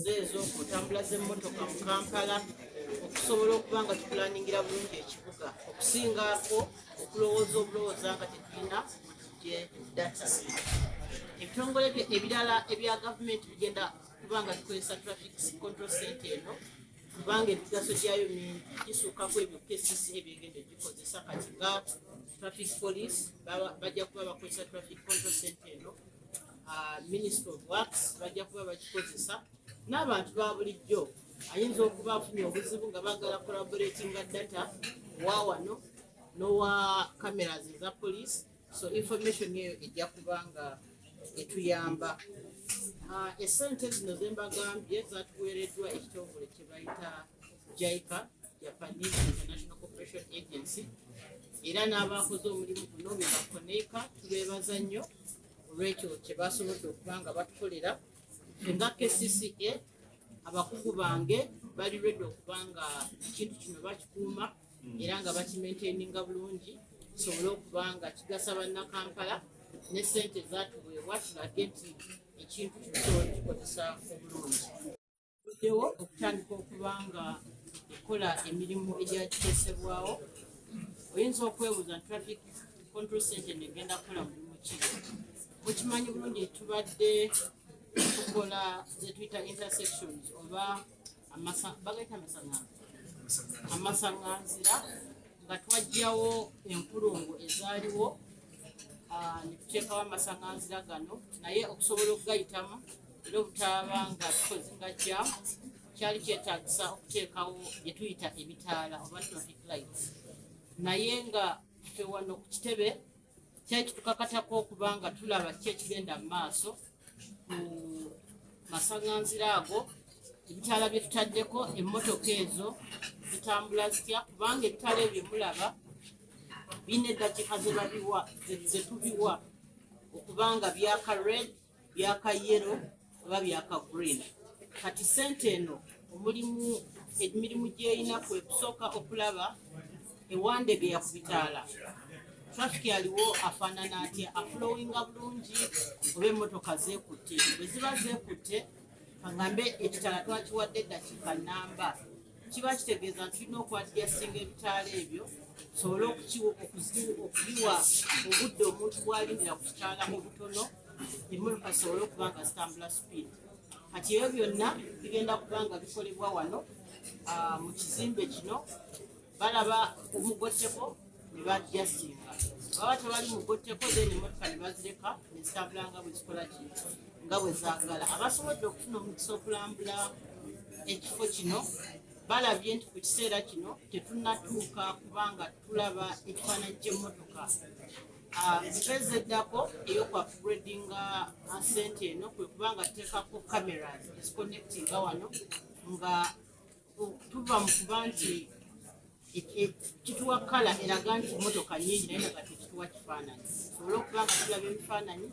ze ez'okutambula z'emmotoka mu kampala okusobola okuba nga tukulaningira bulungi ekibuga okusingaako okulowooza obulowooza nga tetulina gye data ebitongole ebirala ebya gavumenti bigenda kuba nga bikozesa traffic control cente eno kubanga emigaso gyayo mingi gisukako ebyo kcc ebyegenda egikozesa kati nga traffic police bajja kuba bakozesa traffic control cente eno uh, minister of works bajja kuba bakikozesa n'abantu ba bulijjo ayinza okuba afunye obuzibu nga bagala collaboratinga data wa wano nowa cameras eza police so information eyo ejja kuba nga etuyamba uh, esente zino zembagambye zatuweereddwa ekitongole kyebayita jaica japanese international corporation agency era n'abaakoze omulimu guno bebakoneeka tubeebaza nnyo olwekyo kyebasobodde okuba nga batukolera nga kcca abakugu bange bali redi okuba nga ekintu kino bakikuuma era nga bakimaintaininga bulungi kisobole okuba nga kigasa bannakampala ne sente zatuweebwa tulage nti ekintu kino kisobole kikozesa obulungi buddewo okutandika okuba nga ekola emirimu egyakiteesebwawo oyinza okwebuuza nti traffic control center negenda kukola mulimu ki mukimanyi bulungi tubadde tukola zetuyita intersections oba bagaita amasaŋanzira amasaŋanzira nga twajjawo enkulungo ezaaliwo ah, netuteekawo amasaŋanzira gano naye okusobola okugayitamu lw'obutaaba nga tukoze nga kya kyali kyetagisa okuteekawo bye tuyita ebitaala oba traffic lights naye nga ffe wano ku kitebe kyali kitukakatako okuba nga tulaba ki ekigenda mu maaso ku masaŋanzira ago ebitaala bye tutaddeko emmotoka ezo zitambula zitya kubanga ebitaala ebyo mulaba bine eddakiika ze babiwa ze tubiwa okuba nga byaka red byaka yero oba byaka green kati sente eno omulimu emirimu gyeyina kwe kusooka okulaba ewandege yakubitaala traffic aliwo afaanana atya afulowinga bulungi oba emmotoka zeekutte bwe ziba zeekutte kaŋambe ekitala twakiwadde eddakiika namba kiba kitegeeza nti tulina okwadyasinga ebitaala ebyo tusobole okubiwa obudde omuntu bwalindira ku kitaala mu butono emmotoka zisobole okuba nga zitambula sipiidi kati ebyo byonna bigenda kuba nga bikolebwa wano ah, mu kizimbe kino balaba omugotteko ne bajasinga baba tebali mugotteko then emotoka ne bazireka ne zitambula nga bwe zikola ki nga bwe zaagala abasobodde okufuna omukisa okulambula ekifo kino balabye nti ku kiseera kino tetunnatuuka kubanga tulaba ekifaananyi ky'emmotoka Ah, mpeze eddako eyokuapgradinga ah, sente eno kwe kubanga tuteekako cameras eziconnectinga wano nga tuva mu kuba nti kituwa kala eraga nti motoka nyingi naye nga kati kituwa kifaananyi tusobole okuba nga tulaba ebifaananyi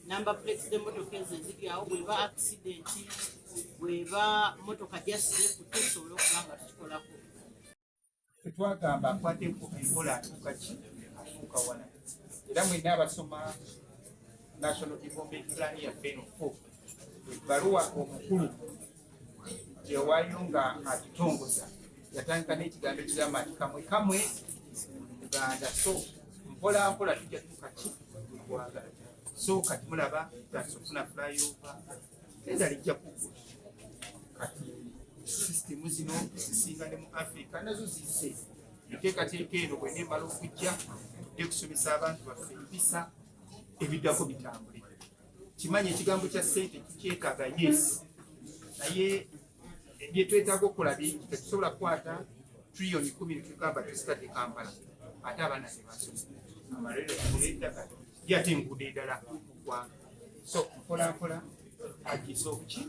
namba plates z'emotoka ezo eziri awo bweba akisidenti bweba motoka jasirekutte tusobole okuba nga tukikolako twagamba akwateko enkola atuuka ki atuuka wala era mwena abasoma national development plan yaffe eno ebbaluwa omukulu gyewaayo nga akitongoza yatandika n'ekigambo ekigamba nti kamwe kamwe muganda so mpola mpola tujja tuka ki gwanga so kati mulaba tutandise okufuna flyova enda lijja kugwa kati sisitemu zino zisinga ne mu afrika nazo zise enteekateeka eno bwe neemala okujja tudde kusomesa abantu baffe empisa ebiddako bitambule kimanyi ekigambo kya sente tukyetaaga yes naye byetwetaaga okukola bingi tetusobola kukwata triyoni kumi netugamba tuzitadde kampala ate abaana tebasoma amalere agula eddaka ye ate enguudo edala mugwanga so mpolampola agiisa obuki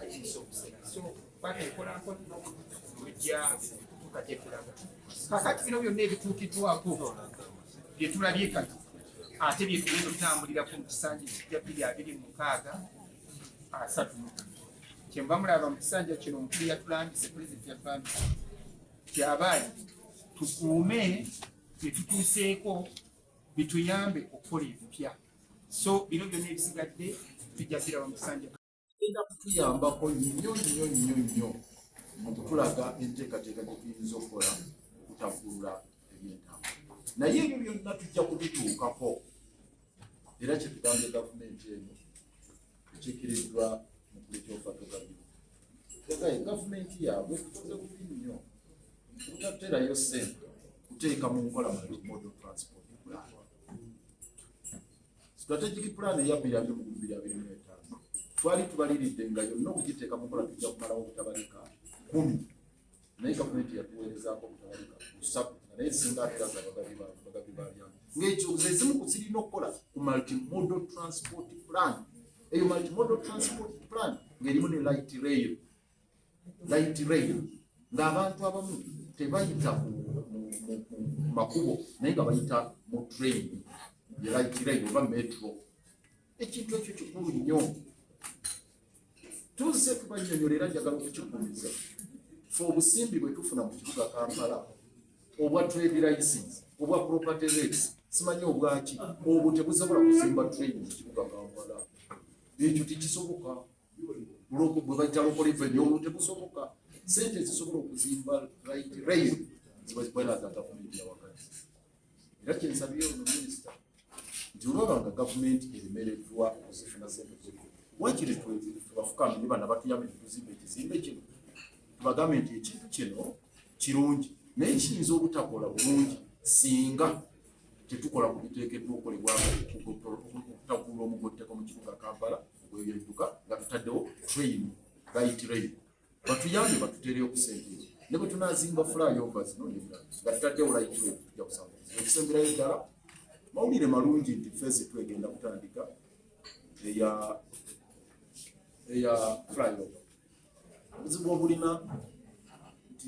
agiisa obusera so kwata enpolampola ojja kutuuka gyetulaga kakati bino byonna ebituukiddwako bye tulabye kati ate bye tugenda okutambulira ku kisanja ekijja bbiri abiri mu mukaaga asatu kyenva mulaba mu kisanja kino omukulu yatulambise pulezidenti yatulambise kyabaali tukuume bye tutuuseeko bituyambe okukola ebipya so bino byonna ebisigadde bijja biraba mu kisanja egenda kutuyambako nnyo nnyo nnyo nnyo mu kutulaga enteekateeka gye tuyinza okukola okutaggulula ebyentambula naye ebyo byonna tujja kubituukako era kyetugambye gavumenti eno ekiikiriddwa mu kulikyofatogabiru egaye gavumenti yaabwe tukoze bubi nnyo obutaterayo ssente kuteeka mu nkola mu model transport plan Strategic plan eya bbiri abiri mu bbiri abiri mu etaano twali tubaliridde nga yonna okugiteeka mu nkola tujja kumalawo obutabalika kumi naye gavumenti yatuweerezaako obutabalika busatu nga naye singa ateraza bagabi baalyamu ng'ekyo ze zimu ku zirina okukola ku multimodal transport plan eyo multimodal transport plan ng'erimu ne light rail light rail ng'abantu abamu tebayita mu makubo naye nga bayita mu train ye light rail oba metro ekintu ekyo kikulu nnyo tuzze tubanyonyolera njagala okukigumiza fe obusimbi bwe tufuna mu kibuga kampala obwa trade license obwa property rates simanyi obwaki obwo tebusobola kuzimba train mu kibuga kampala ekyo tekisoboka bwe bajja local revenue olwo tebusoboka sente ezisobola okuzimba right rail ziba zikwera za gavumenti ya wakati era kyensabye ono minisita nti olwaba nga gavumenti eremereddwa okuzifuna sente zino wakiri tubafukamye ne bana batuyambe netuzimba ekizimbe kino tubagambe nti ekintu kino kirungi naye kiyinza obutakola bulungi singa tetukola ku biteekeddwa okolebwa okutakuula omugotteko mu kibuga kampala webyentuka nga tutaddewo train by train batuyambye batuteereyo ku sente ezo ne bwe tunaazimba flyova zino nebirala nga tutaddewo light rail tujja kusanga okusemberayo ddala mawulire malungi nti fezi twegenda kutandika eya eya flyover obuzibu obulina